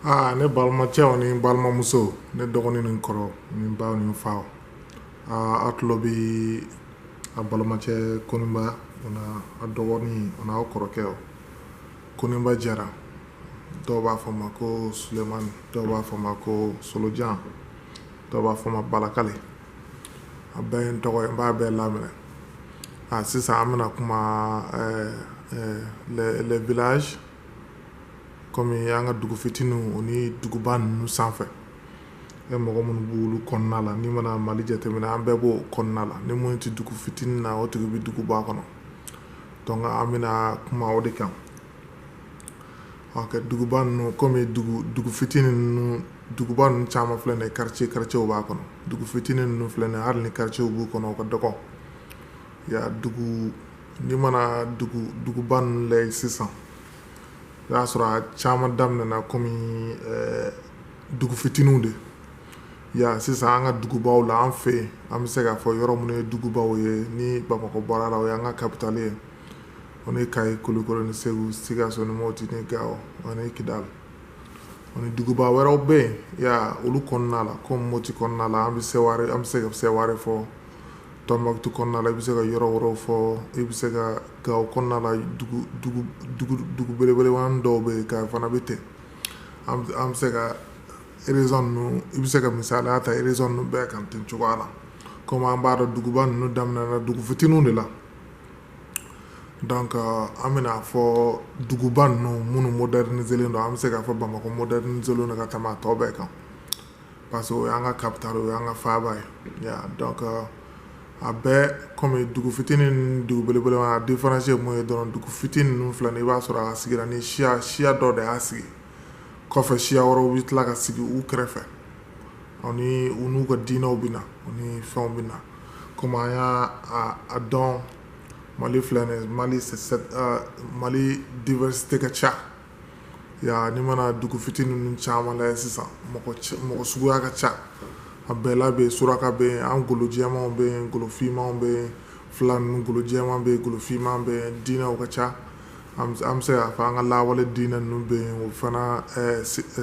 Aa ne balimacɛw ni balimamusow ne dɔgɔnin ni kɔrɔ ni ba ni fa aa aw tulo bɛ aw balimacɛ kɔniba a dɔgɔnin a aw kɔrɔkɛ kɔniba jara dɔw b'a fɔ ma ko sulemani dɔw b'a fɔ ma ko solojan dɔw b'a fɔ ma balakali a ba n b'a bɛɛ laminɛ aa sisan an bɛna kuma v kɔmi an ka dugu fitininw o ni duguba ninnu sanfɛ e mɔgɔ minnu b'olu kɔnɔna la n'i mana mali jateminɛ an bɛɛ b'o kɔnɔna la ni minnu tɛ dugu fitinin na o tigi bɛ duguba kɔnɔ donc an bɛna kuma o de kan ɔkɛ duguba ninnu kɔmi dugu dugu fitinin ninnu duguba ninnu caman filɛ nin ye quartier quartierw b'a kɔnɔ dugu fitinin ninnu filɛ nin ye hali ni quartierw b'u kɔnɔ o ka dɔgɔ Ya dugu n'i mana duguba ninnu lajɛ sisan o y'a sɔrɔ a caman daminɛna kɔmi dugu fitinin de ya sisan an ka dugubaw la an fɛ yen an bɛ se k'a fɔ yɔrɔ minnu ye dugubaw ye ni bamakɔ bɔra a la o y'an ka kabitali ye o ni kayi kulikoro ni segu sikaso ni moti ni gawo ani kidali ani duguba wɛrɛw bɛ yen ya olu kɔnɔna la ko moti kɔnɔna la an bɛ se an bɛ se ka seware fɔ Tɔnbukutu kɔnɔna la i bɛ se ka yɔrɔ yɔrɔ fɔ i bɛ se ka gawo kɔnɔna la dugu belebele dɔw bɛ yen kayi fana bɛ ten an bɛ se ka région ninnu i bɛ se ka misala ta région ninnu bɛɛ kan ten cogoya la kɔmi an b'a dɔn duguba ninnu daminɛna dugu fitinin de la an bɛna a fɔ duguba ninnu minnu modernisélen don an bɛ se k'a fɔ bamakɔ modernisélen don ka tɛmɛ tɔw bɛɛ kan parce que o y'an ka capital o y'an ka faaba ye ya donc euh, a bɛɛ comme dugu fitini ni dugu belebele la différence ye mun ye dɔrɔn dugu fitini ninnu filɛ nin i b'a sɔrɔ a sigira ni siya siya dɔ de y'a sigi kɔfɛ siya wɛrɛw bɛ tila ka sigi u kɛrɛfɛ ani u n'u ka diinɛw bɛ na u ni fɛnw bɛ na komi an y'a a dɔn mali filɛ nin mali euh, mali diversité ka ca Ya n'i mana dugu fitinin ninnu caman lajɛ sisan mɔgɔ suguya ka ca a bɛɛ la bɛ suraka bɛ yen an golojɛma bɛ yen golofinma bɛ yen fila golojɛma bɛ yen golofinma bɛ yen diinɛ ka ca an bɛ se k'a fɔ an ka lawale diinɛ ninnu bɛ yen o fana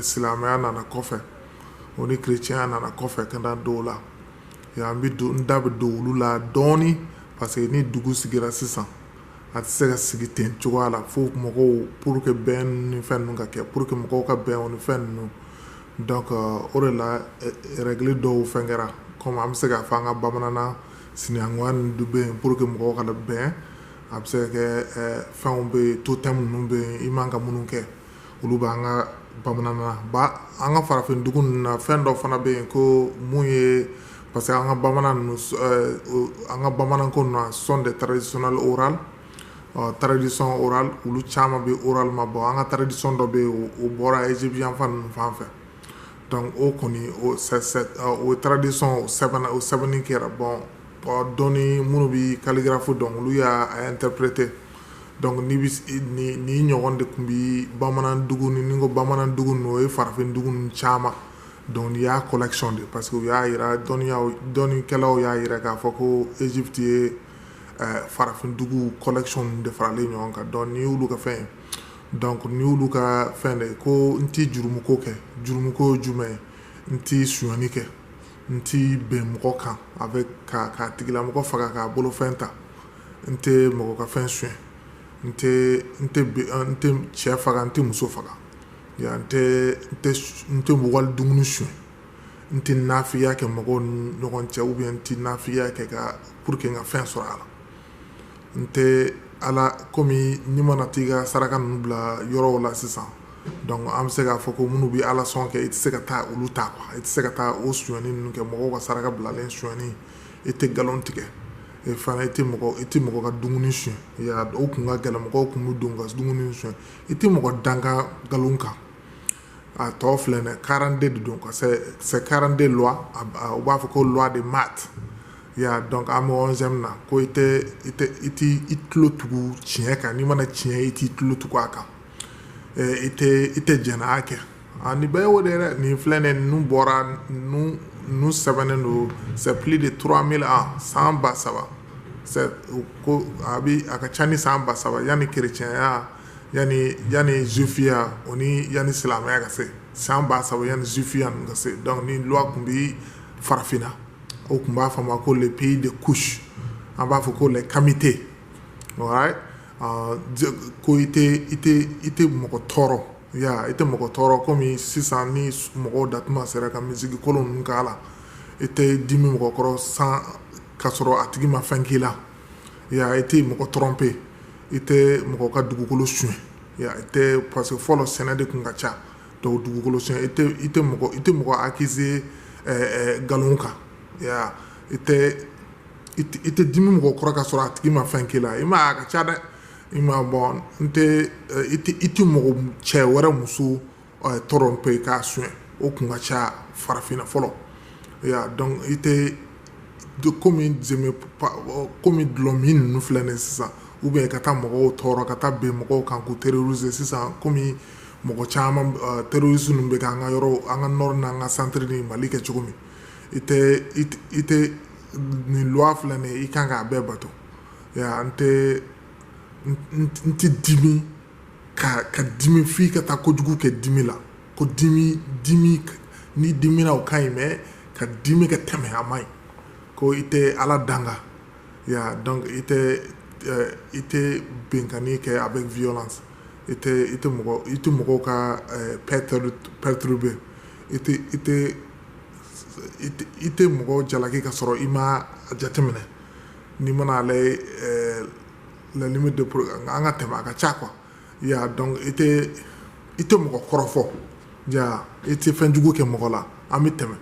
silamɛya nana kɔfɛ o ni kerecɛnya nana kɔfɛ ka da dɔw la yan an bɛ don da bɛ don olu la dɔɔnini parce que ni dugu sigira sisan a tɛ se ka sigi ten cogoya la fo mɔgɔw pour que bɛn ni fɛn ninnu ka kɛ pour que mɔgɔw ka bɛn o ni fɛn ninnu donc euh, o de la eh, règle dɔw fɛn kɛra comme an bɛ se k'a fɔ an ka bamananna sinankunya ninnu dun bɛ yen pour que mɔgɔw ka bɛn a bɛ se ka kɛ eh, fɛnw bɛ yen totem ninnu bɛ yen i man ka minnu kɛ olu bɛ an ka bamanan an ka farafin dugu ninnu na fɛn dɔ fana bɛ yen ko mun ye parce que an ka bamanan an ka bamanan ko ninnu ça sont des traditions orales tradition orale olu caman bɛ orale ma bon an ka tradition dɔ bɛ yen o bɔra égyptien fan ninnu fan fɛ o kɔni o tradition sɛbɛn o sɛbɛnni kɛra bon donc minnu bɛ calligraphie dɔn olu y'a interprété Donc nin ɲɔgɔn de tun bɛ bamanan ni ko bamanan dugu n oo ye farafin dugu caman donc nin y'a collection de parce que u y'a jira dɔnnikɛlaw y'a jira k'a fɔ ko Egypte ye farafin dugu collection de faralen ɲɔgɔn kan donc nin y'olu ka fɛn ye donc nin y'olu ka fɛn de ye ko n tɛ jurumu ko kɛ jurumu ko ye jumɛn ye n tɛ suɲani kɛ n tɛ bin mɔgɔ kan a bɛ ka ka tigilamɔgɔ faga k'a bolofɛn ta n tɛ mɔgɔ ka fɛn suɲɛ n n tɛ cɛ faga n tɛ muso faga n n tɛ mɔgɔ dumuni suɲɛ n tɛ nafigiya kɛ mɔgɔ ɲɔgɔn cɛ u bɛ n tɛ nafigiya kɛ ka pour que ka fɛn sɔrɔ a la n tɛ ala kɔmi n'i mana t'i ka saraka ninnu bila yɔrɔw la sisan an bɛ se k'a fɔ ko minnu bɛ ala sɔn kɛ i tɛ se ka taa olu ta i tɛ se ka taa o suɲani kɛ mɔgɔw ka saraka bilalen suɲani i tɛ nkalon tigɛ e fana i tɛ mɔgɔ i tɛ mɔgɔ ka dumuni suɲɛ ya o kun ka gɛlɛn mɔgɔw tun bɛ don ka dumuni suɲɛ i tɛ mɔgɔ danga nkalon kan a tɔ filɛ dɛ 42 de don a c'est 42 lois u b'a fɔ ko lois de Maât ya donc an bɛ 11ème na ko i tɛ i tɛ i tulo tugu tiɲɛ kan n'i mana tiɲɛ i t'i tulo tugu a kan i tɛ i tɛ jɛnɛya kɛ A ni bɛɛ y'o de ye dɛ nin filɛ nin ye ninnu bɔra ninnu ninnu sɛbɛnnen don c'est plus de 3000 ans san 3000 c'est u ko a bi a ka ca ni san 3000 yani chrétien-ya yani yani juif-ya o ni yani silamɛya ka se san 3000 yani juif-ya ninnu ka se donc nin loi tun bi farafinna o tun b'a fɔ a ma ko le pays de Kouch an b'a fɔ ko les kamites alright ɔɔ je ko i tɛ i tɛ i tɛ mɔgɔ tɔɔrɔ Ya i tɛ mɔgɔ tɔɔrɔ kɔmi sisan ni mɔgɔw da tuma sera ka musique kolon ninnu k'a la i tɛ dimi mɔgɔ kɔrɔ sans ka sɔrɔ a tigi ma fɛn k'i la ya i tɛ mɔgɔ trompé i tɛ mɔgɔ ka dugukolo suɲɛ i tɛ parce que fɔlɔ sɛnɛ de tun ka ca dugukolo suɲɛ i tɛ mɔgɔ accusé nkalon kan i tɛ dimi mɔgɔ kɔrɔ ka sɔrɔ a tigi ma fɛn k'i la i ma ka ca dɛ i ma bɔ n tɛ i tɛ i tɛ mɔgɔ cɛ wɛrɛ muso tromper k'a sonya o tun ka ca farafinna fɔlɔ donc i tɛ kɔmi kɔmi dɔlɔ min ninnu filɛ nin sisan u bɛ ka taa mɔgɔw tɔɔrɔ ka taa bin mɔgɔw kan ko terroriser sisan kɔmi mɔgɔ caman terroristes ninnu bɛ an ka yɔrɔ an ka nord n' an ka centre ni mali kɛ cogo min i tɛ i tɛ nin loi filɛ nin i kan k'a bɛɛ bato an tɛ n tɛ dimi ka ka dimi fo ka taa kojugu kɛ dimi la ko dimi dimi ni dimina o ka ɲi mais ka dimi ka tɛmɛ a ma ɲi ko i tɛ ala danga donc i tɛ i tɛ binkanni kɛ avec violence i tɛ i tɛ mɔgɔw ka perturber i i tɛ mɔgɔ jalaki ka sɔrɔ i ma a jateminɛ Ni mana ale ye ɛɛ l'ennemi de pro nka an ka tɛmɛ a ka ca quoi i y'a ye donc i tɛ i tɛ mɔgɔ kɔrɔfɔ jaa i tɛ fɛn jugu kɛ mɔgɔ la an bɛ tɛmɛ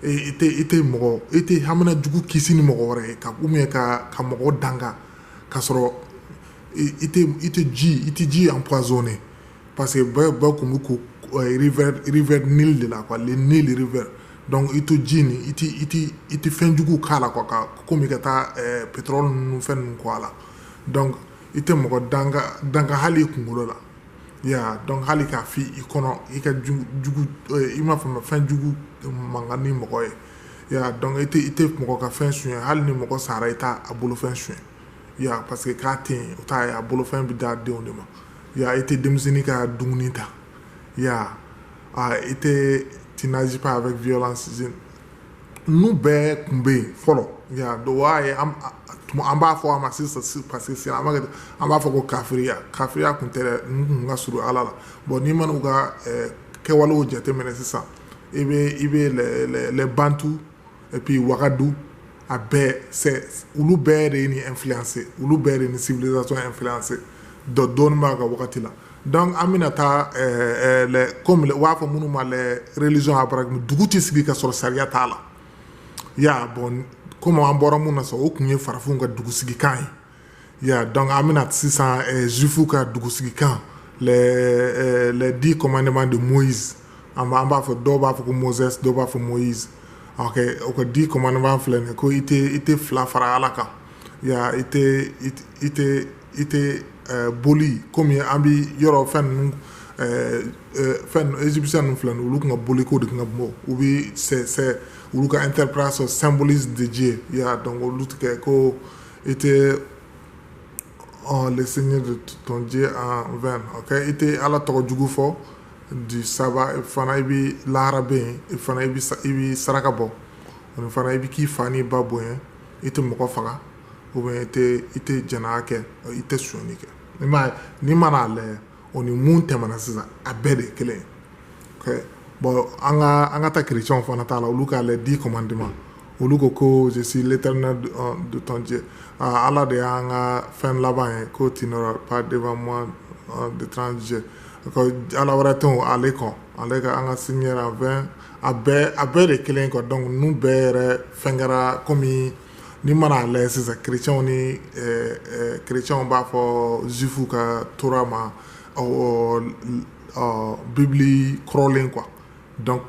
i tɛ i tɛ mɔgɔ i tɛ hamina jugu kisi ni mɔgɔ wɛrɛ ye ka ou bien ka ka mɔgɔ danga ka sɔrɔ i tɛ i tɛ ji i tɛ ji empoisonné parce que bɛɛ bɛɛ tun bɛ ko rivière rivière Nil de la quoi le Nil rivière donc i to ji nin i i tɛ fɛn jugu k'a la comme i ka taa pétrole ninnu fɛn ninnu kɛ a la donc i tɛ mɔgɔ danga hali i kunkolo la i y'a dɔn hali k'a fɔ i kɔnɔ i ka i m'a fɔ ma fɛn jugu man kan ni mɔgɔ ye i y'a dɔn i i tɛ mɔgɔ ka fɛn sonya hali ni mɔgɔ sara i t'a bolofɛn sonya ya parce que k'a tɛ yen o t' a bolofɛn bɛ d'a denw de ma i tɛ denmisɛnnin ka dumuni ta i y'a a i tɛ tu n'agis pas avec violence sisan nu bɛɛ tun bɛ yen fɔlɔ an b'a fɔ a ma sisan parce que an an b'a fɔ ko kafiriya kafiriya tun tɛ an tun ka surun ala la bon n'i mana u ka kɛwalew jateminɛ sisan i bɛ i bɛ les bantu et puis wagadu a bɛɛ c'est olu bɛɛ de ye nin influencer olu bɛɛ de ni civilisation influencer dɔ dɔɔni b'a ka wagati la donc an bɛna taa euh, euh, comme u b'a fɔ minnu ma les religions abrahamiques dugu tɛ sigi ka sɔrɔ sariya t'a la ya bon comme an bɔra mun na sa o tun ye farafinw ka dugusigikan ye Ya donc an bɛna taa sisan juifw ka dugusigikan les dix commandements de Moïse an an b'a fɔ dɔw b'a fɔ ko Moses dɔw b'a fɔ Moïse o ka dix commandements filɛ nin ko i i tɛ filan fara ala kan ya i i tɛ boli kɔmi an bɛ yɔrɔ fɛn égyptiens ninnu fila olu tun ka boli ko de tun ka bon u bɛ olu ka interprétation symbolisme de ye ya donc olu tɛ ko i tɛ oh, le Seigneur de ton Dieu en vain. Ok, i tɛ ala tɔgɔ jugu fɔ du sabbat fana i bɛ lahara bɛ yen i fana i bɛ i bɛ saraka bɔ ani fana i bɛ k'i fa n'i ba bonya i tɛ mɔgɔ faga ou bien i tɛ i tɛ jɛnɛya kɛ i tɛ sonyani kɛ n'i ma n'i mana a lajɛ o ni mun tɛmɛna sisan a bɛɛ de kelen bɔn an ka an ka taa kerecɛnw fana ta la olu ka les dix commandements olu ko ko je suis l'Éternel de ton Dieu ala de y'an ka fɛn laban ye ko tu n'auras pas devant moi d'étranger ala wɛrɛ tɛ ale kɔ ale ka an ka sin a a bɛɛ de kelen kɔ dɔnku ninnu bɛɛ yɛrɛ fɛn kɛra kɔmi N'i mana a lajɛ sisan kerecɛnw ni kerecɛnw b'a fɔ juifs ka tora ma bibili kɔrɔlen donc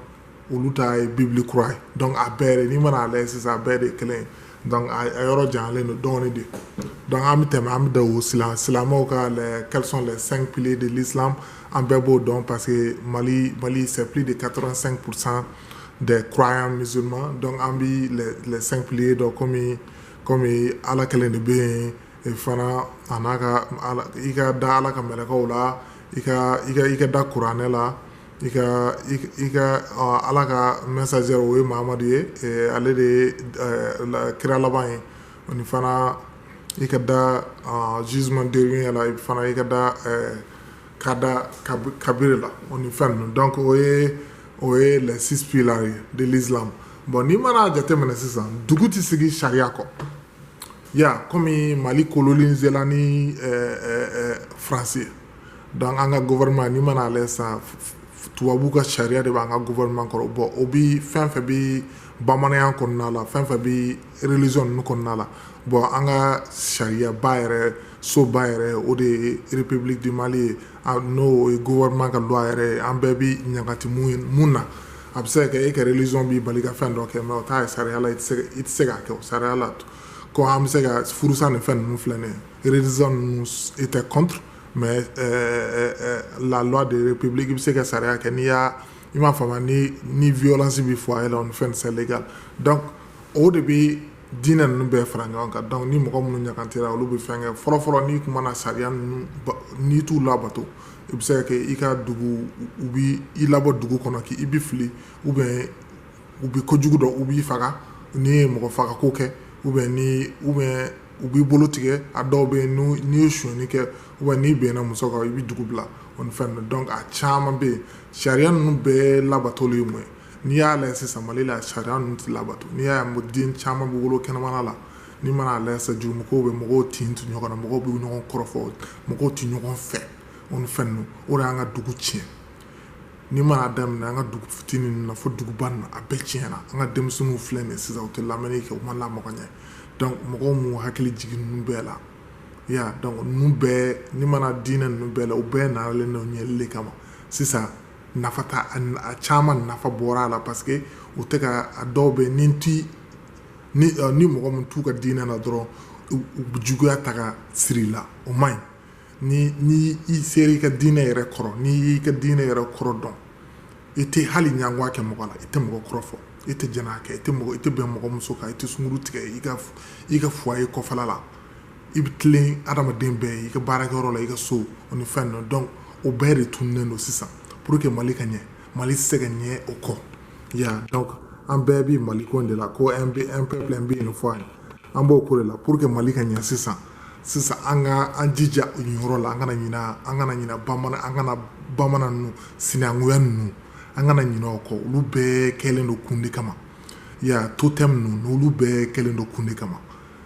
olu ta ye bibili kura ye a bɛɛ n'i mana a lajɛ sisan a bɛɛ de kelen a yɔrɔ janyalen don dɔɔnin de dɔnku an bɛ tɛmɛ an bɛ silamɛ silamɛw ka quels sont les cinq piliers de l'islam an bɛɛ b'o dɔn parce que mali mali c'est de quatre-vingt-cinq pour cent des croyants musulmans donc an bi les, les cinq piliers dɔn komi komi ala kelen de bɛ yen e fana a n'a ka ala i ka da ala ka mɛlɛkɛw la i ka i ka i ka da kuranɛ la i ka i ka ɔ, ala ka messager o ye mahamadu ye e, ale de ye ɛ, la- kira laban ye o ni fana i ka da ɔ, jugement dernier la i fana i ka da ɛ, ka da kabi- kabiri la o ni fɛn ninnu donc o ye o ye les six piliers ye de l'islam bon n'i mana jateminɛ sisan dugu tɛ sigi sariya kɔ ya komi mali kolonizela ni eh, eh, eh, faransi donc an ka gouvernement n'i mana a lajɛ sisan tubabu ka sariya de b'an ka gouvernement kɔrɔ bɔn o bi fɛn fɛn bi bamananya kɔnɔna la fɛn fɛn bi religion ninnu kɔnɔna la bɔn an ka sariyaba yɛrɛ soba yɛrɛ o de ye république du mali ye n'o ye gouvernement ka loi yɛrɛ ye an bɛɛ bɛ ɲangati mun na a bɛ se ka kɛ e ka religion b'i bali ka fɛn dɔ kɛ mais o t'a sariya la i tɛ se k'a kɛ sariya la ko an bɛ se ka furusa ni fɛn ninnu filɛ nin ye religion ninnu était contre mais la loi de république i bɛ se ka sariya kɛ n'i y'a i m'a faamuya ni violence bɛ foyer la o ni fɛn c'est légal donc o de bɛ dinɛ ninnu bɛɛ fara ɲɔgɔn kan dɔnku ni mɔgɔ minnu ɲangatira olu bɛ fɛn kɛ fɔlɔfɔlɔ n'i tun na sariya n'i t'u labato i bɛ se ka kɛ i ka dugu u bɛ i labɔ dugu kɔnɔ k' i bɛ fili u bɛ u bɛ ko jugu dɔn u b'i faga n'i ye mɔgɔ faga ko kɛ u bɛ u bɛ u b'i bolo tigɛ a dɔw bɛ n'i ye sonyani kɛ u bɛ n'i bɛnna muso kan i bɛ dugu bila o fɛn dɔn a caman bɛ yen sariya ninnu bɛɛ labatoli ye mun ye n'i y'a lajɛ sisan mali la sariya ninnu tɛ labato n'i y'a ye den caman bɛ wolo kɛnɛmana la n'i mana lajɛ sisan juru mɔgɔw bɛ mɔgɔw tin to ɲɔgɔn na mɔgɔw bɛ ɲɔgɔn kɔrɔfɔ mɔgɔw tɛ ɲɔgɔn fɛ o ni fɛn ninnu o de y'an ka dugu tiɲɛ n'i mana daminɛ an ka dugu fitinin ninnu na fo duguba ninnu a bɛɛ tiɲɛna an ka denmisɛnninw filɛ nin sisan u tɛ lamɛnni kɛ u ma lamɔ ka ɲɛ donc mɔgɔw m'u hakili jigin ninnu bɛɛ la ya donc ninnu bɛɛ n'i mana diinɛ ninnu bɛɛ la u bɛɛ nalen don ɲɛli de kama sisan nafa a caman nafa bɔra a la parce que u tɛ ka a dɔw bɛ ni tɛ ni mɔgɔ min t'u ka diinɛ na dɔrɔn juguya ta ka siri la o man ɲi ni i sera i ka diinɛ yɛrɛ kɔrɔ n'i y'i ka diinɛ yɛrɛ kɔrɔ dɔn i tɛ hali ɲɛngoya kɛ mɔgɔ la i tɛ mɔgɔ kɔrɔfɔ i tɛ jɛnɛya kɛ i tɛ i tɛ bin mɔgɔ muso kan i tɛ sunkuru tigɛ i ka f i ka foyer kɔfɛ la i bɛ tilen adamaden bɛɛ ye i ka baarakɛyɔrɔ la i ka so o ni fɛn ninnu donc o bɛɛ de tununnen don sisan pour que mali ka ɲɛ mali tɛ se ka ɲɛ o kɔ ya donc an bɛɛ bɛ mali ko de la ko an bɛ an bɛɛ an bɛ yen fɔ an ye an b'o ko de la pour que mali ka ɲɛ sisan sisan an ka an jija o yɔrɔ la an kana ɲina an kana ɲina bamanan an kana bamanan ninnu sinankunya ninnu an kana ɲinɛ o kɔ olu bɛɛ kɛlen don kun de kama ya totem ninnu n'olu bɛɛ kɛlen don kun de kama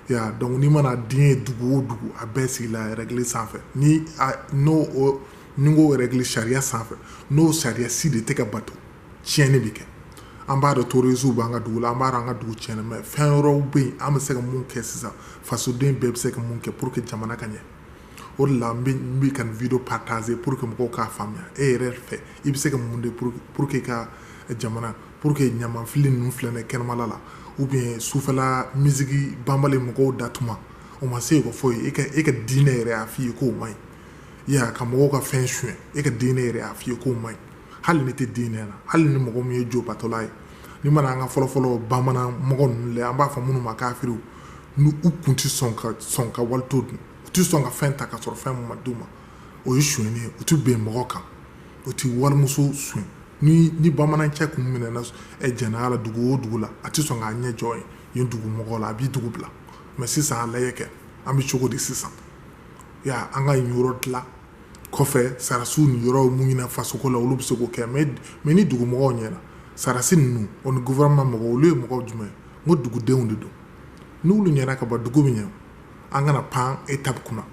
ya donc n'i mana den ye dugu o dugu a bɛɛ sigila règle sanfɛ ni n'o ni ko règle sariya sanfɛ n'o sariya si de tɛ ka bato tiɲɛni bɛ kɛ an b'a dɔn terroristes b'an ka dugu la an b'a dɔn an ka dugu tiɲɛna mais fɛn yɔrɔw bɛ yen an bɛ se ka mun kɛ sisan fasoden bɛɛ bɛ se ka mun kɛ pour que jamana ka ɲɛ o de la n bɛ ka vidéo partager pour que mɔgɔw k'a faamuya e yɛrɛ fɛ i bɛ se ka mun de pour que i ka jamana pour que ɲamanfili ninnu filɛ nin kɛnɛmala la ou bien sufɛla musique banbali mɔgɔw da tuma o ma se ka fɔ e ka diinɛ yɛrɛ y'a fɔ i ye k'o man ɲi ya ka mɔgɔw ka fɛn sonyɛ e ka diinɛ yɛrɛ y'a fɔ i ye k'o man ɲi hali ni tɛ diinɛ na hali ni mɔgɔ min ye jo batola ye n'i mana an ka fɔlɔfɔlɔ bamanan mɔgɔ ninnu an b'a fɔ minnu ma kafiri ninnu tun tɛ sɔn ka sɔn ka wali to dun u tɛ sɔn ka fɛn ta ka sɔrɔ fɛn ma d'u ma o ye sonyɛni ye u tɛ bin mɔgɔ kan u tɛ wali muso sonyɛ ni ni bamanan cɛ kun minɛna jɛnɛya la dugu o dugu la a tɛ sɔn k'a ɲɛ jɔ yen dugu mɔgɔ la a bɛ dugu bila mais sisan a lajɛ kɛ an bɛ cogo di sisan ya an ka yɔrɔ dilan kɔfɛ sarasiw ni yɔrɔ mun ɲɛna fasoko la olu bɛ se k'o kɛ mais ni dugu mɔgɔw ɲɛna sarasi ninnu o ni gma mɔgɔ olu ye mɔgɔw jumɛn n ko dugudenw de don n'olu ɲɛna ka bɔ dugu min ɲɛ an kana pan étape kunna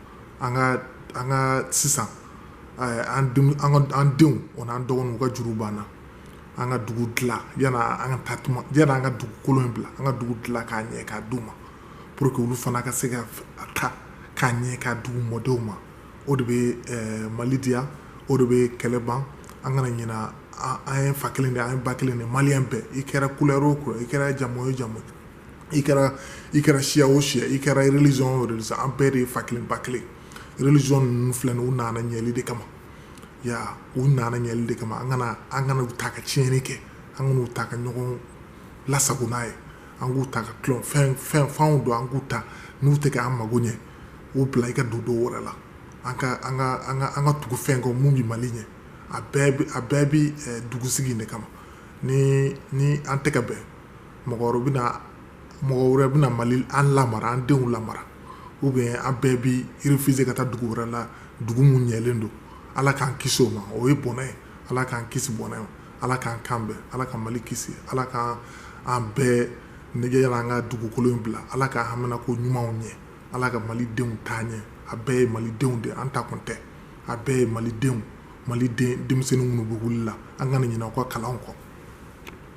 an ka an ka sisan an an denw o n'an dɔgɔninw ka juru banna an ka dugu dilan yan an ka taa yan an ka dugukolo in bila an ka dugu dilan k'a ɲɛ k'a d'u ma pour que olu fana ka se ka a ta k'a ɲɛ k'a d'u mɔdenw ma o de bɛ eh, mali diya o de bɛ kɛlɛ ban an kana ɲina an ye fa kelen de an ye ba kelen de mali bɛɛ i kɛra couleur o couleur i kɛra jamu o jamu i kɛra i kɛra siya o siya i kɛra religion o religion an bɛɛ de ye fa kelen ba kelen religion ninnu filɛ nin u nana ɲɛli de kama ya u nana ɲɛli de kama an kana an kana u ta ka tiɲɛni kɛ an kana u ta ka ɲɔgɔn lasago n'a ye an k'u ta ka tulon fɛn fɛn fɛnw don an k'u ta n'u tɛ k'an mago ɲɛ u bila i ka don dɔ wɛrɛ la an ka an ka an ka an ka tugu fɛn kɔ min bɛ mali ɲɛ a bɛɛ bɛ a bɛɛ bɛ dugusigi in de kama ni ni an tɛ ka bɛn mɔgɔ bɛ mɔgɔ wɛrɛ bɛna mali an lamara an denw lamara u bɛ an bɛɛ bɛ réfugié ka taa dugu wɛrɛ la dugu minnu ɲɛlen don ala k'an kisi o ma o ye bɔnɛ ye ala k'an kisi bɔnɛ ma ala k'an kan bɛn ala ka mali kisi ala k' an bɛɛ nɛgɛgeyala an ka dugukolo in bila ala ka haminanko ɲumanw ɲɛ ala ka mali denw taa ɲɛ a bɛɛ ye mali denw de an ta kun tɛ a bɛɛ ye mali denw mali denmisɛnnin minnu bɛ wuli la an kana ɲina u ka kalan kɔ